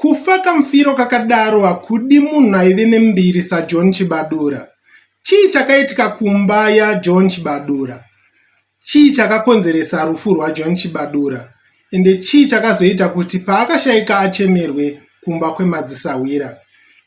Kufa kamufiro kakadaro hakudi munhu aive nembiri saJohn Chibadura. Chii chakaitika kumba yaJohn Chibadura? Chii chakakonzeresa rufu rwaJohn Chibadura? Ende chii chakazoita kuti paakashaika achemerwe kumba kwemadzisahwira?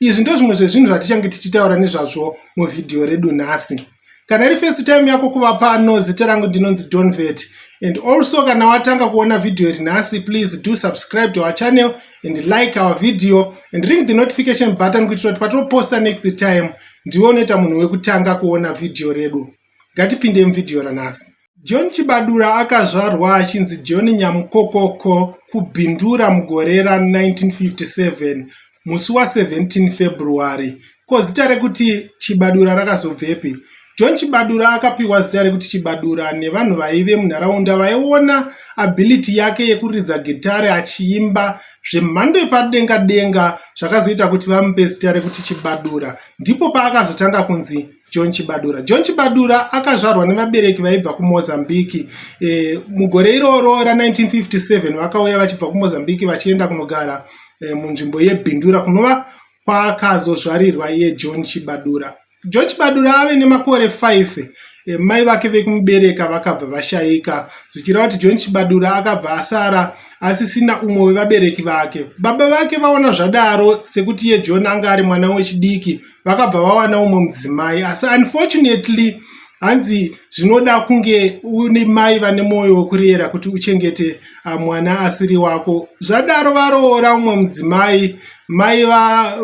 Izvi ndozvimwe zvezvinhu zvatichange tichitaura nezvazvo muvhidhiyo redu nhasi. kana iri first time yako kuva pano zita rangu ndinonzi donvet and also kana watanga kuona vhidhiyo iri nhasi please do subscribe to our channel and like our video and ring the notification button kuitira kuti patoposta next time ndiwe unoita munhu wekutanga kuona vhidhiyo redu ngatipinde muvhidhiyo ranhasi John Chibadura akazvarwa achinzi John Nyamukokoko kuBindura mugore ra1957 musi wa17 February. Ko zita rekuti Chibadura rakazobvepi? John Chibadura akapiwa zita rekuti Chibadura nevanhu vaive munharaunda vaiona ability yake yekuridza gitare achiimba zvemhando yepadenga denga zvakazoita kuti vamupe zita rekuti Chibadura. Ndipo paakazotanga kunzi John Chibadura. John Chibadura akazvarwa nevabereki vaibva kuMozambique. E, mugore iroro ra 1957 vakauya vachibva kuMozambique vachienda kunogara e, munzvimbo yeBindura kunova kwakazozvarirwa iye John Chibadura. John Chibadura ave nemakore 5 e, mai vake vekumubereka vakabva vashaika zvichireva kuti John Chibadura akabva asara asisina umwe wevabereki vake. Baba vake vaona zvadaro sekuti iye John anga ari mwana wechidiki vakabva vawana umwe mudzimai asi unfortunately hanzi zvinoda kunge une mai vane mwoyo wekurera kuti uchengete ah, mwana asiri wako zvadaro varoora umwe mudzimai mai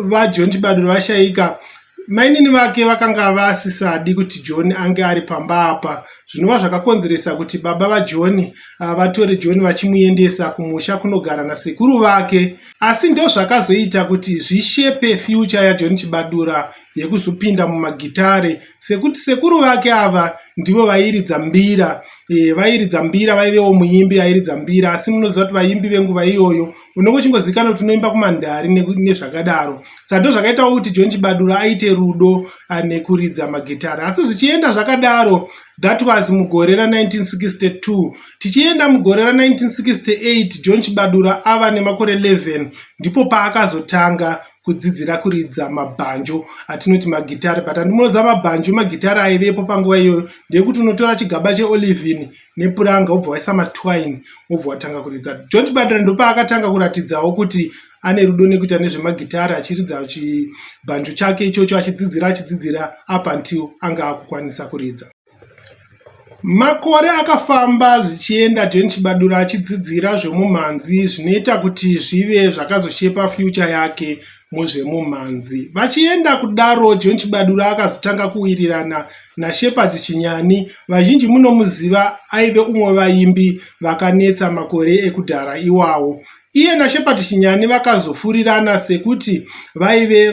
vajohn chibaduro vashaika mainini vake vakanga vasisadi kuti john ange ari pamba apa zvinova zvakakonzeresa kuti baba vajohn ah, vatore john vachimuendesa kumusha kunogara nasekuru vake asi ndozvakazoita kuti zvishepe future yajohn chibadura yekuzopinda mumagitare sekuti sekuru vake ava ndivo vairidza mbira e, vairidza mbira vaivewo muimbi airidza mbira asi munoziva kuti vaimbi venguva iyoyo unongochingozivikana kuti unoimba kumandhari nezvakadaro sa ndozvakaitawo kuti john chibadura aite rudo nekuridza magitare asi zvichienda zvakadaro that was mugore ra 1962 Tichienda mugore ra 1968 John Chibadura ava nemakore 11 ndipo paakazotanga kudzidzira kuridza mabhanjo atinoti magitari but andimonoziva mabhanjo magitari aivepo panguva iyoyo ndeyekuti unotora chigaba cheolivin nepuranga wobva waisa matwine wobva watanga kuridza john chibadira ndopaakatanga kuratidzawo kuti ane rudo nekuita nezvemagitari achiridza chibhanjo chake ichocho achidzidzira achidzidzira up until anga akukwanisa kuridza Makore akafamba zvichienda John Chibadura achidzidzira zvemumhanzi zvinoita kuti zvive zvakazoshepa future yake muzvemumhanzi. Vachienda kudaro John Chibadura akazotanga kuwirirana naShepard Chinyani vazhinji munomuziva aive umwe vaimbi vakanetsa makore ekudhara iwawo. Iye naShepherd Shinyani vakazofurirana sekuti vaive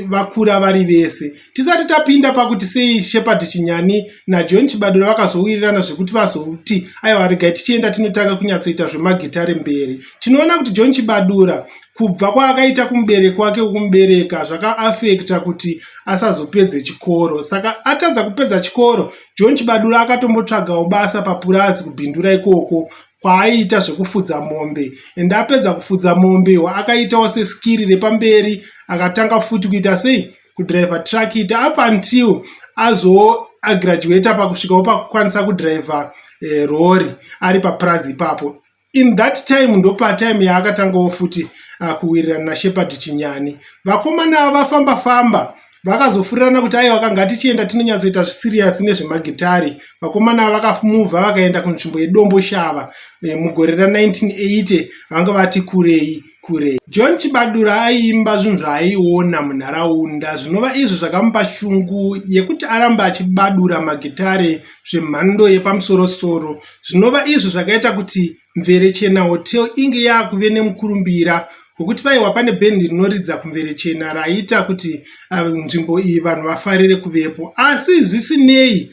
vakura vari vese. Tisati tapinda pakuti sei Shepherd Chinyani naJohn Chibadura vakazowirirana zvekuti vazoti aiwa regai tichienda tinotanga kunyatsoita zvemagitare mberi. Tinoona kuti John Chibadura kubva kwaakaita kumubereki wake wekumubereka zvakaafekta kuti asazopedze chikoro saka atadza kupedza chikoro john chibadura akatombotsvagawo basa papurazi kubhindura ikoko kwaaiita zvekufudza mombe and apedza kufudza mombe wa akaitawo seskiri repamberi akatanga futi kuita sei kudriver truck ita up until azo agraduata pakusvikawo pakukwanisa kudriver eh, rori ari papurazi ipapo in that time ndopatime yaakatangawo futi uh, kuwirirana nashepard chinyani vakomana vafamba famba vakazofurirana kuti aiwa kanga tichienda tinonyatsoita zvisiriyasi nezvemagitari vakomana ava vakamuvha vakaenda kunzvimbo yedombo shava e, mugore ra1980 vanga vati kurei kurei john chibadura aiimba zvinhu zvaaiona munharaunda zvinova izvo zvakamupa shungu yekuti arambe achibadura magitare zvemhando yepamusorosoro zvinova izvo zvakaita kuti Mverechena Hotel inge yakuve nemukurumbira wekuti paiwa pane band rinoridza kuMverechena raiita kuti uh, nzvimbo iyi vanhu vafarire kuvepo asi zvisinei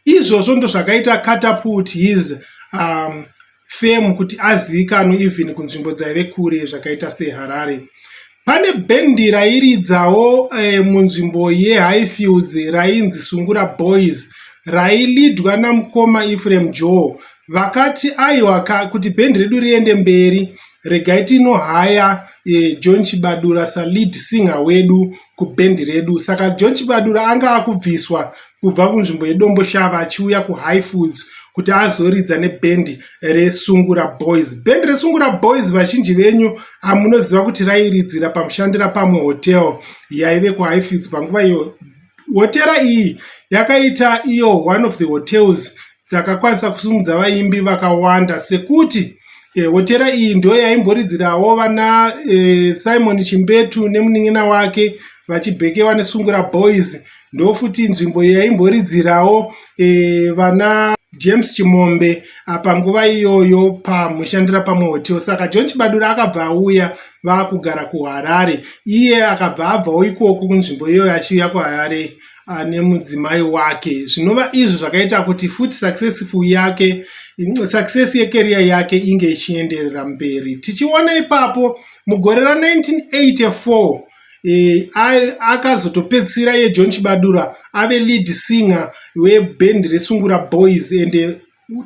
izvozvo ndozvakaita catapult his um, fame kuti azivikanwe even kunzvimbo dzaive kure zvakaita seharare Pane bhendi rairidzawo eh, munzvimbo yeHighfields rainzi Sungura Boys railidwa namukoma Ephraim Joe vakati aiwa kuti bhendi redu riende mberi regai tinohaya eh, John Chibadura salead singer wedu kubhendi redu saka John Chibadura anga akubviswa kubva kunzvimbo yeDomboshava achiuya kuHigh Foods kuti azoridza nebhendi reSungura Boys. Bhendi reSungura Boys vazhinji venyu munoziva kuti rairidzira pamushandira pamwe hotel yaive kuHigh Foods panguva iyo. Hotera iyi yakaita iyo one of the hotels dzakakwanisa kusimudza vaimbi vakawanda sekuti e, hotera iyi ndo yaimboridzirawo vana e, simon chimbetu nemunin'ina wake vachibhekewa nesungura boys ndofuti nzvimbo yaimboridzirawo e, vana james chimombe apa nguva iyoyo pamushandira pamwe hotel saka john chibadura akabva auya vaakugara kuharare iye akabva abvawo ikoko kunzvimbo iyoyo achiuya kuharare Ah, nemudzimai wake zvinova izvo zvakaita kuti futi successful yake success yekeriya yake inge ichienderera mberi tichiona ipapo mugore ra1984 e, eh, akazotopedzisira yejohn chibadura ave lead singer webhendi resungura boys and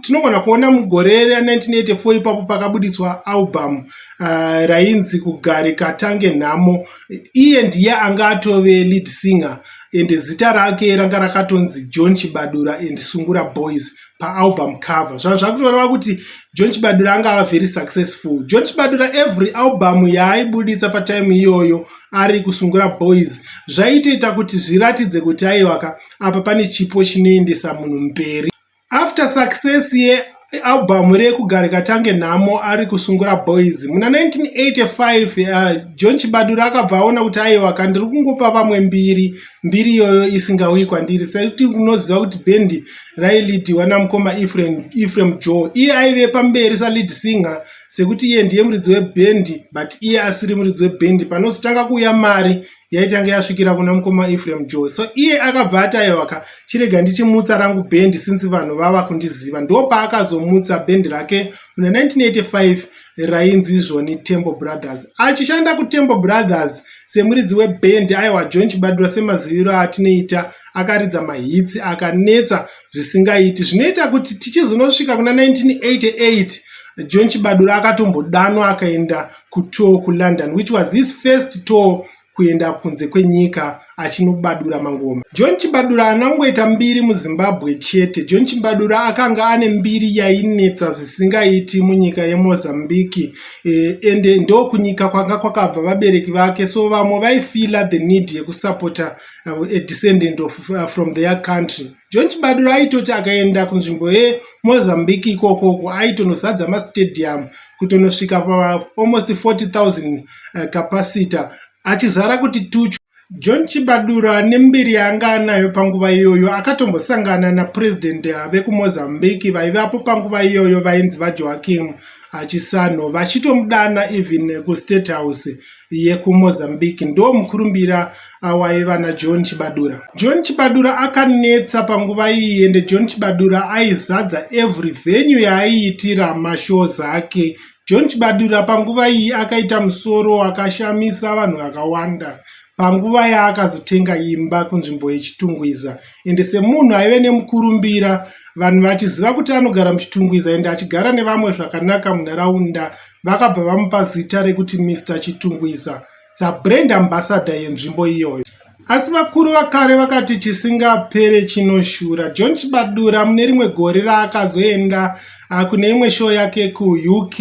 tinogona kuona mugore ra1984 ipapo pakabuditswa album uh, rainzi kugare katange nhamo iye ndiye anga atove lead singer and zita rake ranga rakatonzi john chibadura and sungura boys paalbum cover zvaa zvakutoreva kuti john chibadura anga ava very successful john chibadura every album yaaibuditsa patime iyoyo ari kusungura boys zvaitoita kuti zviratidze kuti aiwaka apa pane chipo chinoendesa munhu mberi After success yealbum rekugarika tange nhamo ari kusungura boys muna 1985 uh, john chibadura akabva aona kuti aiwa ka ndiri kungopa vamwe mbiri mbiri iyoyo isingauyi kwandiri sekuti unoziva kuti bendi railidiwa namukoma efrem joe iye aive pamberi salead singer sekuti iye ndiye muridzi webendi but iye asiri muridzi webendi panozotanga kuuya mari yaitange yasvikira kuna mukoma efraim joy so iye akabva ataiwaka chirega ndichimutsa rangu bendi since vanhu vava kundiziva ndo paakazomutsa bendi rake muna 1985 rainzi izvoni temple brothers achishanda kutemple brothers semuridzi webendi aiwa john chibadura semaziviro aatinoita akaridza mahitsi akanetsa zvisingaiti zvinoita kuti tichizonosvika kuna 1988 john chibadura akatombodanwa akaenda kutour kulondon which was his first tour kuenda kunze kwenyika achinobadura mangoma john chibadura haana kungoita mbiri muzimbabwe chete john chibadura akanga ane mbiri yainetsa zvisingaiti munyika yemozambique eh, ende eh, ndokunyika kwanga kwakabva vabereki vake so vamwe vaifila the need yekusapota uh, eh, a descendant of, uh, from their country John Chibadura aitoti akaenda kunzvimbo yeMozambique ikoko uko aitonozadza mastadium kutonosvika paalmost 40,000 eh, capacity achizara kuti tuchu. John Chibadura nembiri yaanga anayo panguva iyoyo akatombosangana naPresident eh, vekuMozambique vaivapo panguva iyoyo vainzi vaJoakim Achisanho vachitomudana even eh, kuState House yekuMozambique ndo mukurumbira awaiva naJohn Chibadura. John Chibadura akanetsa panguva iyi ende John Chibadura aizadza every venue yaaiitira mashows ake. John Chibadura panguva iyi akaita musoro wakashamisa vanhu vakawanda panguva yaakazotenga imba kunzvimbo yechitungwiza ende semunhu aive nemukurumbira vanhu vachiziva kuti anogara muchitungwiza ende achigara nevamwe zvakanaka munharaunda vakabva vamupa zita rekuti Mister Chitungwiza sabrand ambassador yenzvimbo iyoyo. Asi vakuru vakare vakati chisingapere chinoshura. John Chibadura mune rimwe gore raakazoenda ah, kune imwe show yake kuUK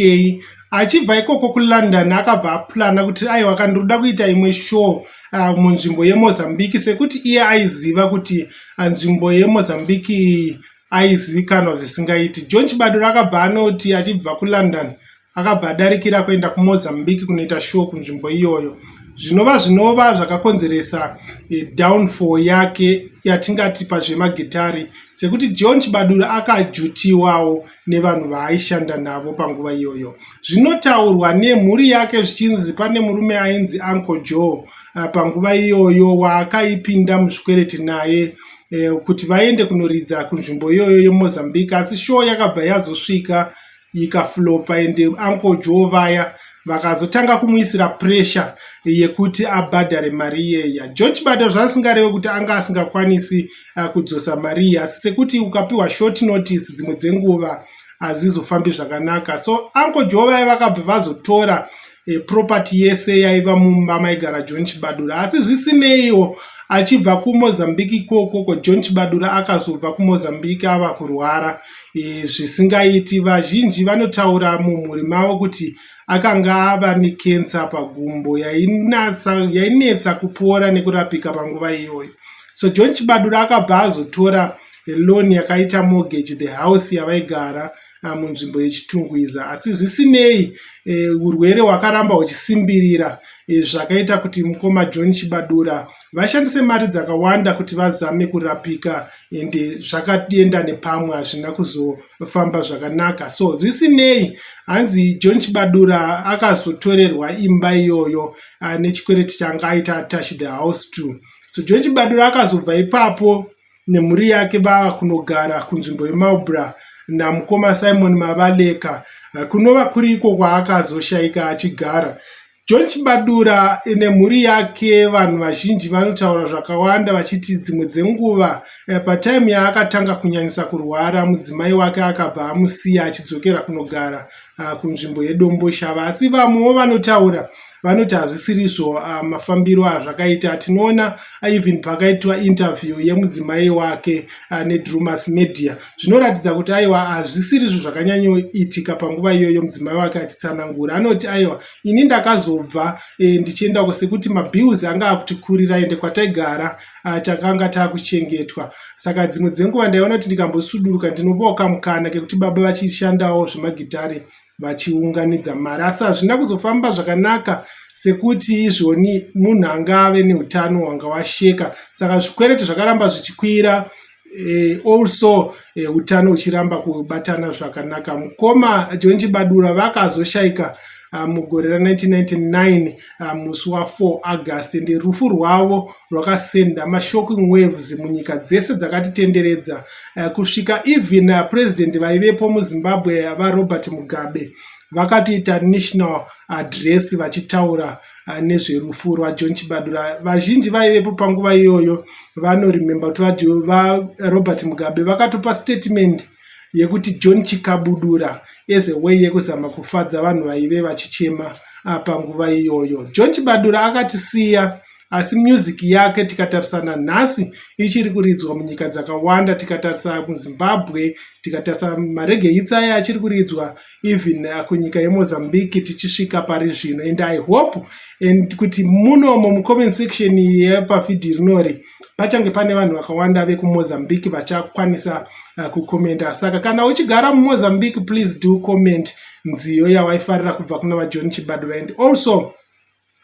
achibva ikoko kulondon akabva aplana kuti aiwa kana ndirikuda kuita imwe show ah, munzvimbo yemozambique sekuti iye aiziva kuti ah, nzvimbo yemozambique aizivikanwa zvisingaiti. John Chibadura akabva anoti achibva kuLondon akabva adarikira kuenda kuMozambique kunoita show kunzvimbo iyoyo zvinova zvinova zvakakonzeresa e, downfall yake yatingati pazvemagitari sekuti john chibadura akajutiwawo nevanhu vaaishanda navo panguva iyoyo zvinotaurwa nemhuri yake zvichinzi pane murume ainzi uncle joe eh, panguva iyoyo waakaipinda muzvikwereti naye eh, kuti vaende kunoridza kunzvimbo iyoyo yemozambique asi show yakabva yazosvika ikaflopa ende uncle joe vaya vakazotanga kumuisira pressure yekuti abhadhare mari iyeya john chibada zvaasingareve kuti anga asingakwanisi uh, kudzosa mari iyi asi sekuti ukapiwa short notice dzimwe dzenguva hazvizofambi zvakanaka so uncle joe vaya vakabva vazotora e, property yese yaiva mumba maigara john chibadura asi zvisineiwo achibva kumozambique ikoko ko john chibadura akazobva kumozambique ava kurwara e, zvisingaiti vazhinji vanotaura mumhuri mavo kuti akanga ava nekensa pagumbo yainetsa kupora nekurapika panguva iyoyo so john chibadura akabva azotora loni yakaita mortgage the house yavaigara ah, munzvimbo yechitungwiza asi zvisinei eh, urwere hwakaramba huchisimbirira eh, zvakaita kuti mukoma john chibadura vashandise mari dzakawanda kuti vazame kurapika ende zvakaenda nepamwe hazvina kuzofamba zvakanaka so zvisinei hanzi john chibadura akazotorerwa imba iyoyo ah, nechikwereti changa aita attach the house to so john chibadura akazobva ipapo nemhuri yake vava kunogara kunzvimbo yeMarlborough namukoma Simon Mabaleka kunova kuri iko kwaakazoshaika achigara. John Chibadura nemhuri yake vanhu vazhinji vanotaura zvakawanda vachiti dzimwe dzenguva eh, pataimu yaakatanga kunyanyisa kurwara mudzimai wake akabva amusiya achidzokera kunogara ah, kunzvimbo yedomboshava asi vamwewo vanotaura vanoti hazvisirizvo ah, mafambiro azvakaita tinoona ah, even pakaitwa interview yemudzimai wake ah, nedrumas media zvinoratidza kuti aiwa hazvisirizvo zvakanyanyoitika panguva iyoyo mudzimai wake achitsanangura anoti aiwa ini ndakazobva eh, ndichienda kusekuti mabills anga akutikurira ende kwataigara takanga takuchengetwa saka dzimwe dzenguva ndaiona kuti ndikambosuduruka ndinopoka mukana kekuti baba vachishandawo zvemagitare vachiunganidza mari asi hazvina kuzofamba zvakanaka sekuti izvoni munhu anga ave neutano hwanga washeka saka zvikwereti zvakaramba zvichikwira eh, also eh, utano uchiramba kubatana zvakanaka mukoma john chibadura vakazoshayika ah, mugore ra 1999 ah, musi wa 4 august ndi rufu rwavo rwakasenda mashocking waves munyika dzese dzakatitenderedza ah, kusvika even ah, president vaivepo muzimbabwe varobert mugabe vakatoita national address vachitaura ah, nezverufu rwajohn chibadura vazhinji vaivepo panguva iyoyo vanoremember kuti varobert mugabe vakatopa statement yekuti John Chikabudura as a way yekuzama kufadza vanhu vaive vachichema ah, panguva iyoyo. John Chibadura akatisiya asi music yake tikatarisana nhasi ichiri kuridzwa munyika dzakawanda tikatarisa muzimbabwe tikatarisa maregeitsi aya achiri kuridzwa even uh, kunyika yemozambique tichisvika pari zvino and i hope and kuti munomo mucomment section yepavhidhi rinori pachange pane vanhu vakawanda vekumozambique vachakwanisa uh, kukomenta saka kana uchigara mumozambique please do comment nziyo yawaifarira kubva kuna vajohn chibadura and also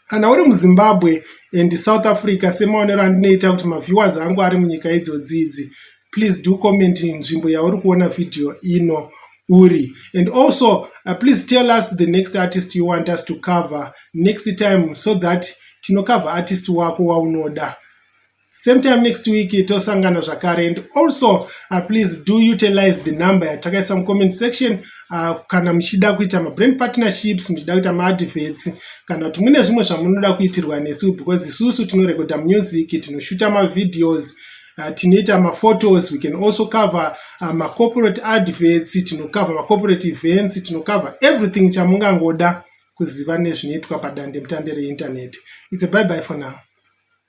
Kana uri muZimbabwe and South Africa semaonero andinoita kuti maviewers angu ari munyika idzodzi idzi please do comment nzvimbo yauri kuona video ino uri and also uh, please tell us the next artist you want us to cover next time so that tinocover artist wako waunoda same time next week tosangana zvakare and also uh, please do utilize the number yatakaisa mucomment section uh, kana muchida kuita mabrand partnerships muchida kuita maadverts kana kuti mune zvimwe zvamunoda kuitirwa nesu because isusu tinorekodha music tinoshuta mavideos Uh, tinoita maphotos we can also cover uh, macorporate adverts tinocover macorporate events tinocover everything chamungangoda kuziva nezvinoitwa padande mutande reinternet its a bye bye for now